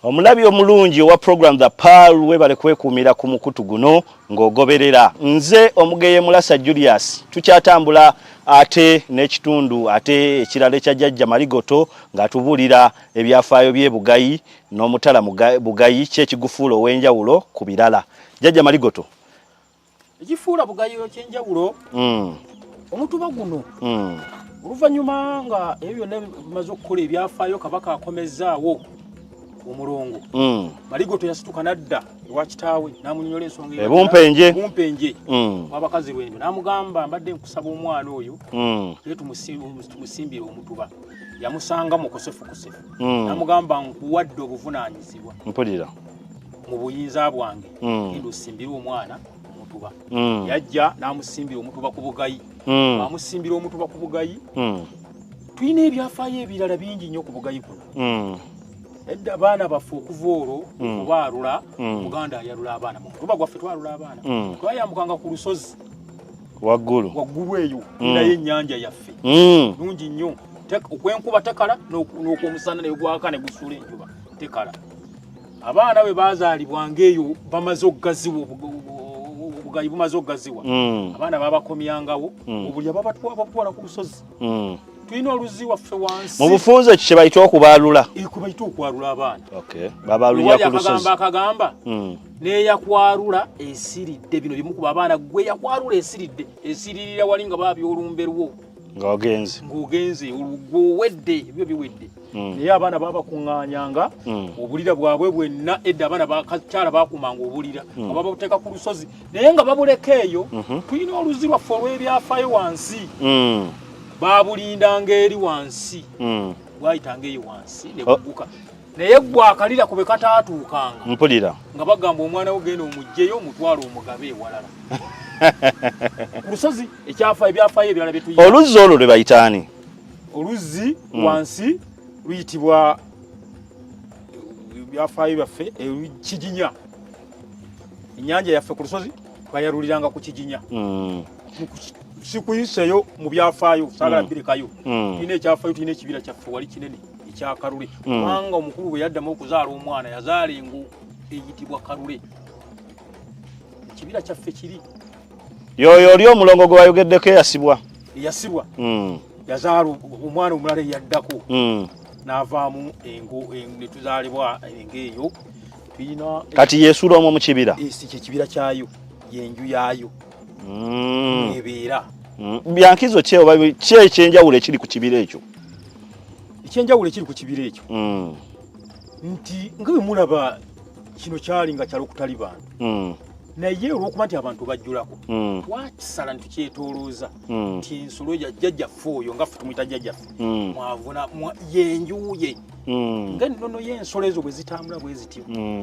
omulabi omulungi owa program the pal webale kwekuumira ku mukutu guno ng'ogoberera nze omugeye mulasa julius tukyatambula ate n'ekitundu ate ekirala ekya jajja maligoto ng'atubuulira ebyafaayo by'ebugayi n'omutala bugayi ki ekigufuula ow'enjawulo ku birala jjajja maligoto ekifuula bugayi ekyenjawulo hmm. omutuba guno hmm. oluvannyuma nga ebyo byonna bimaze okukola ebyafaayo kabaka akomezzaawo omulongo hmm. maligoto yasituka nadda ewa kitaawe namunyonyola ensonga ebumpenje wabakazi lwendo namugamba mbadde nkusaba omwana oyo naye tumusimbire omutuba yamusanga mu kusifukusifu mm. namugamba nkuwadde obuvunaanyizibwa mpulira mu buyinza bwange mm. genda osimbire omwana omutuba mm. yajja n'amusimbira omutuba ku bugayi mm. amusimbira omutuba ku bugayi mm. tulina ebyafaayo ebirala bingi nnyo ku bugayi kuno mm. edda abaana baffe okuva olwo mm. okubaalula mm. muganda ayalula abaana mu mutuba gwaffe twalula abaana mm. twayambukanga ku lusozi waggulu waggulu eyo mm. naye ennyanja yaffe mm. nungi nnyo okwenkuba tekala n'okwomusana naye gwaka ne gusuula enjuba tekala abaana bwe baazaalibwa ng'eyo bamaze okugaziwa obugayi bumaze okugaziwa mm. abaana babakomyangawo obulya babatwala ku lusozi tulina oluzi waffe wansi mu bufunze ekyo kyebayita okubaalula ekwebayita okwalula abaana babalulira ku lusozi akagamba neyakwarula esiridde bino bimukuba abaana gwe yakwarula esiridde esiririra wali nga baabi olumbe lwo ngaogenze ngaogenze olugwo owedde ebyo biwedde hmm. naye abaana babakuŋŋanyanga hmm. obulira bwabwe bwenna edda abaana bakakyala bakumanga obulira hmm. aba babuteeka ku lusozi naye nga babuleka eyo mhm. tulina oluzi lwaffe olw'ebyafayo wansi babulindanga eri wansi bwayitanga eyo wansi nebuguka oh. naye gwe akalira kube kataatuukanga mpulira nga bagamba omwana wo genda omugjeyo omutwalo omugabe ewalala ku lusozi ekyafa ebyafayo ebirala byetu oluzzi olwo lwe bayitaani oluzzi mm. wansi luyitibwa ebyafayo byaffe ekijinya enyanja yaffe ku lusozi bayaluliranga ku kijinya mm. sikuyiseyo mu byafaayo saagala mm. birekayo tulina ekyafayo tulina ekibira kyaffe wali kinene ekyakalule mm. kubanga omukulu bwe yaddamu okuzaala omwana yazaala engo eyitibwa kalule ekibira kyaffe kiri yoyo oli omulongo gwe wayogeddeko eyasibwa eyasibwa mm. yazaala omwana omulala eyaddako mm. n'avaamu engo netuzaalibwa engo eyo tulina kati yesuula omwo mu kibira kyekibira kyayo yenju yaayo ebeera byankizo kyeoba kyekyenjawulo ekiri ku kibira ekyo ekyenjawulo ekiri ku kibira ekyo mm. nti nga bwe mulaba kino kyali nga kyalo kutali bantu mm. naye olwokuba nti abantu bajjulako mm. twakisala ne tukyetolooza nti ensolo jajjaffe oyo nga ffe tumuyita jajjaffe mwavuna yenjuye nga ennono y'ensolo ezo bwe zitambula bwe zityo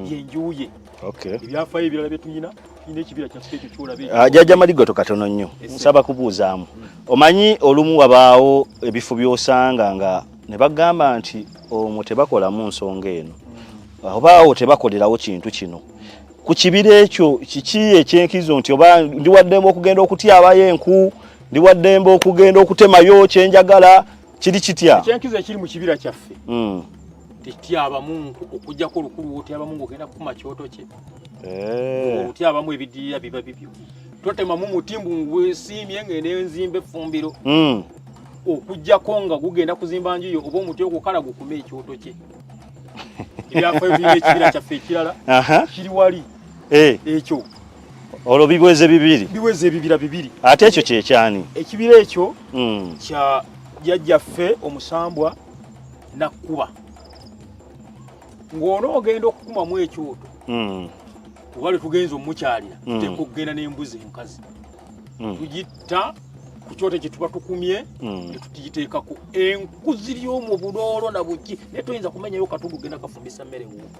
yenjuye Okay. Ebyafaayo ebirala bye tulina tulina ekibira kyaffe ekyo kyolaba ekyo. Ah, Jajja Maligoto katono nnyo nsaba kubuuzaamu omanyi olumu wabaawo ebifo by'osanga nga ne bagamba nti omwo tebakolamu nsonga eno obaawo tebakolerawo kintu kino ku kibira ekyo kiki ekyenkizo nti oba ndiwaddemu okugenda okutyabayo enku ndiwaddemba okugenda okutemayo kyenjagala kiri kitya ekyenkizo ekiri mu kibira kyaffe hmm. tekityabamu okujjako olukulu wotyabamu ngaogenda kukuma kyoto kye eh. otyabamu ebidirira biba bibyo totemamu muti mbu ngwesiimye ngende nzimba effumbiro hmm. okujjako nga gugenda kuzimba njuyo oba omuti ogukala gukume ekyoto kye ebyafo ebiri ekibira kyaffe ekirala kiri wali eh. ekyo olwo biweze bibiri biweze ebibira bibiri ate ekyo kyekyani ekibira ekyo mm. kya jajjaffe omusambwa nakkuba ng'ono ogenda okukumamu ekyoto mm. oba lwetugenza omukyalira mm. tuteeka okugenda n'embuzi enkazi mm. tugitta ku kyoto kye tuba tukumye mm. ne tutugiteekako enkuzi ly'omu buloolo na buki naye toyinza kumenyayo katugu genda kafumbisa mmere wuuka